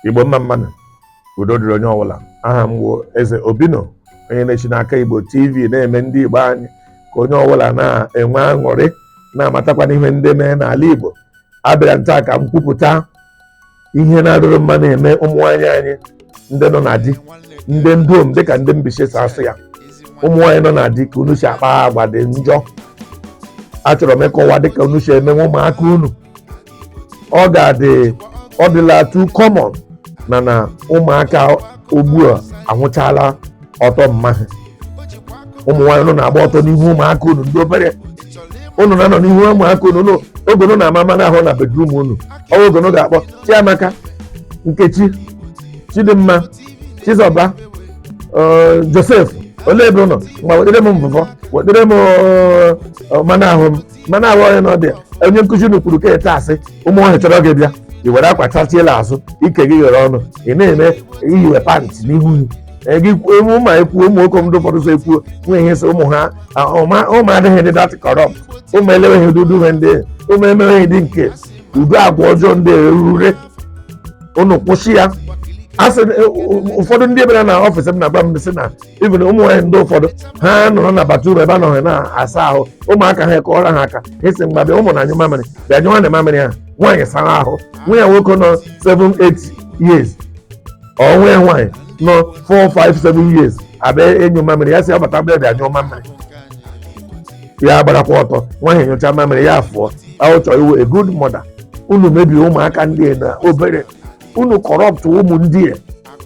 igbo mma mmanụ udo dịrị onye ọbụla aha m wụ eze obino onye na-eshi n'aka igbo tv na-eme ndị igbo anyị ka onye ọbụla na-enwe aṅụrị na-amatakwana ihe ndị mere n'ala igbo abịara m taa ka m kwupụta ihe na-adịghị mma na-eme ụmụ nwaanyị anyị ndị nọ na di ndị ndom dịka ndị mbaise si asụ ya ụmụ nwaanyị nọ na di ka unu si akpa agwa dị njọ achọrọ m ịkọwa dịka unu si emenwe ụmụaka unu ọ ga-adị ọ dịla too common na na ụmụaka ugbu a ahụchala ọtọ mma ha ụmụ nwaanyị unu na-agba ọtọ n'ihu ụmụaka unu ndị obere unu na-anọ n'ihu ụmụaka unu unu oge unu na-ama mmanụ ahụ na bedroom unu ọ wụ oge unu ga-akpọ chiamaka nkechi chidimma chizọba eh, joseph olee ebe unu ma wetere m mvụvọ wetere m eh, mmanụ ahụ m mmanụ ahụ onye n'ọdị onye nkụzi unu kwuru ka ete asị ụmụ ọhịa chọrọ gị bịa i were akwa chachiela azụ ike gị ghere ọnụ ị na-eme iyiwe pant n'ihu gị Ee, gị kwuo ụmụ ma ekwuo ụmụ nwoke ndị ụfọdụ so ekwuo nwe ihe so ụmụ ha a, ụma ụmụ adịghị ndị that corrupt ụmụ eleweghị ụdị udu ihe ndị ụmụ emeweghị dị nke ụdị agwa ọjọọ ndị erure unu kwụsị ya asị ụfọdụ ndị bịara na office m na-agwa m sị na even ụmụ nwaanyị ndị ụfọdụ ha nọrọ na bathroom ebe ha nọ na-asa ahụ ụmụaka ha akụọrọ ha aka asị mgba bịa ụmụ na anyụ mamịrị bịa nyụwanụ mamịrị ha nwaanyị sara ahụ nwa ya nwoke nọ 7-8 years or nwa ya nwaanyị nọ 4-5-7 years abịa ịnyụ mamịrị ya sị ya bata bịa bịa nyụọ mamịrị ya agbarakwa ọtọ nwa ahụ nyụcha mamịrị ya afụọ ahụchọ ị wụ a good mother unu mebiri ụmụaka ndị a na obere unu corrupt ụmụ ndị a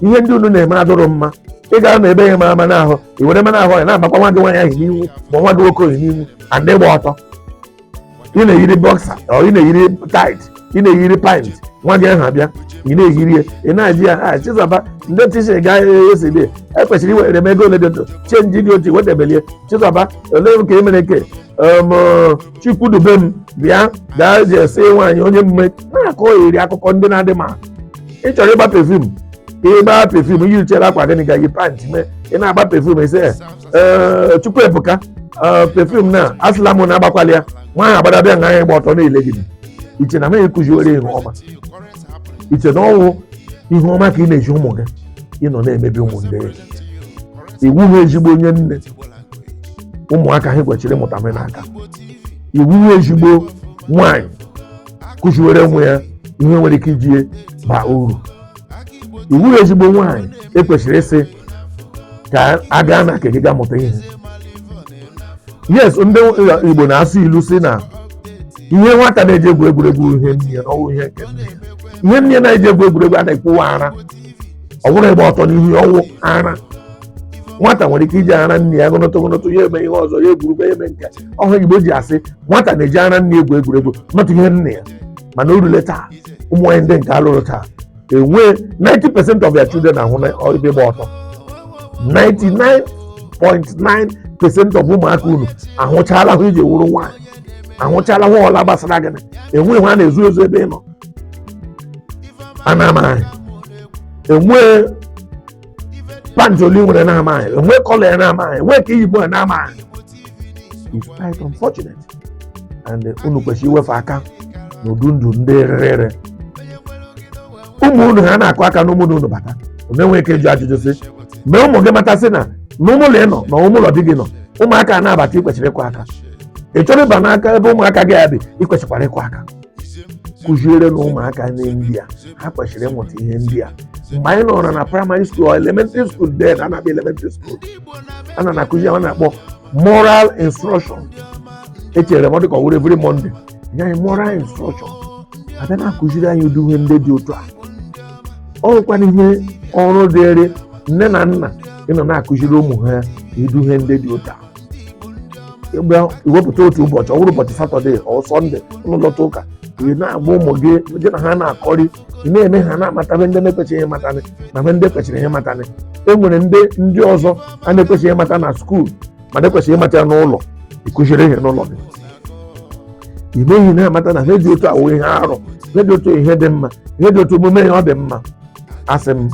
ihe ndị unu na-eme adụrụ mma ị gara na ebe ya ama mmanụ ahụ i were mmanụ ahụ ya na-amakwa nwa gị nwaanyị ahụ n'ihu ma nwa gị nwoke ahụ n'ihu and ị gba ọtọ ị na-eyiri boxer or ị na-eyiri tight ị na-eyiri pant nwa gị ahụ abịa ị na-eyiri ya ị na-ajụ ya ha chizọba ndị teacher ga esi dị ekwesịrị iwere m ego ole dị ndụ change dị otu wedebelie chizọba olee m ka e mere nke em, chukwudubem bịa gaa ji esi nwaanyị onye mgbe na-akọri akụkọ ndị na-adị ma ị chọrọ ịgba perfume ka ị gbaa perfume yirichara akwa gịnị ga yi pant mee ị na-agba perfume ese ee Chukwuebuka ee perfume na asịla m na agbakwala ya nwa ahụ abata bịa nga anyị gba ọtọ na-ele gị i che na amaghị kụziwere ihe ọma i che na ọ wụ ihe ọma ka ị na-eji ụmụ gị ị nọ na-emebi ụmụ ndị gị ị wụghị ezigbo onye nne ụmụaka ha kwesịrị ịmụta m n'aka ị wụghị ezigbo nwaanyị kụziwere nwa ya ihe nwere ike iji ya baa uru ị wụghị ezigbo nwaanyị ekwesịrị ịsị ka a gaa na nke gị ga mụta ihe yes ndị igbo na-asụ ilu sị na ihe nwata na-eji egwu egwuregwu ihe nne ya na ọ wụ ihe nke nne ya ihe nne ya na-eji egwu egwuregwu a na-ekwu wụ ara ọ bụghị ịgba ọtọ n'ihu ya ọ wụ ara nwata nwere ike iji ara nne ya gụnụtụ gụnụtụ ya eme ihe ọzọ ya egwuru egwu ya eme nke ọhụ igbo ji asị nwata na-eji ara nne egwu egwuregwu na ọ wụ ihe nne ya mana o rule taa ụmụ nwaanyị ndị nke a lụrụ taa enwe 90 percent of their children ahụla ebe ị gba ọtọ 99.9 percent of ụmụaka unu ahụchala ihe i ji wụrụ nwaanyị ahụchala ihe ọ wụla gbasara gị na enwe ihe a na-ezo ezo ebe ị nọ ha na-amaghị enwe pant ole i nwere na-amaghị enwe colour ya na-amaghị enwe ka i yi ya na-amaghị it's quite unfortunate and uh, unu kwesịrị iwefe aka n'ụdị ndụ ndị rere ụmụ unu ha na-akụ aka n'ime ụlọ unu bata unu enweghị ike ịjụ ajụjụ sị mee ụmụ gị mata sị na na ime ụlọ ị nọ na ime ụlọ di gị nọ ụmụaka na-abata i kwesịrị ịkụ aka ị chọrọ ịba n'aka ebe ụmụaka gị ya bi i kwesịkwara ịkụ aka kụzierenụ ụmụaka unu ihe ndị a ha kwesịrị ịmụta ihe ndị a mgbe anyị nọrọ na primary school elementary school then a na-akpọ elementary school a na na-akụzi ihe a na-akpọ moral instruction echere m ọ dịka ọ wụrụ every monday e nye anyị moral instruction a bịa na-akụziri anyị ụdị ihe ndị dị otu a o nwekwanụ ihe ọrụ dịrị nne na nna ịnọ na-akụziri ụmụ ha ụdị ihe ndị dị otu a mgbe i wepụta otu ụbọchị ọ bụrụ ụbọchị saturday or sunday unu lọta ụka ị na-agwa ụmụ gị gị na ha na-akọrị ị na-eme ha na-amatarị ndị na-ekwesịghị ịmatanị na ihe ndị kwesịrị ịmatanị e nwere ndị ndị ọzọ ha na-ekwesịghị ịmata na school mana e kwesịrị ịmata ya n'ụlọ ị kụziri ha n'ụlọ gị i mee ha na-amata na ihe dị otu a wụ ihe arụ ihe dị otu ihe dị mma ihe dị otu omume ya ọ dị mma asị m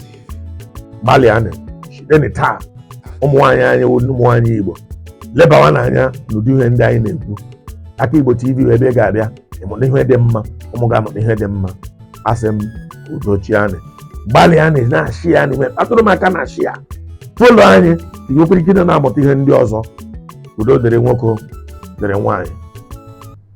gbalịanụ sitenụ taa ụmụ nwaanyị anyị wụ ụmụ nwaanyị igbo lebawanụ anya n'ụdị ihe ndị anyị na-ekwu aka igbo tv wụ ebe ị ga-abịa ịmụta ihe dị mma ụmụ gị amụta ihe dị mma asị m udo chịanụ gbalịanụ na-share ya n'ime atụrụ m aka na-share ya follow anyị ka i nwekwuo ike na-amụta ihe ndị ọzọ udo dịrị nwoke dịrị nwaanyị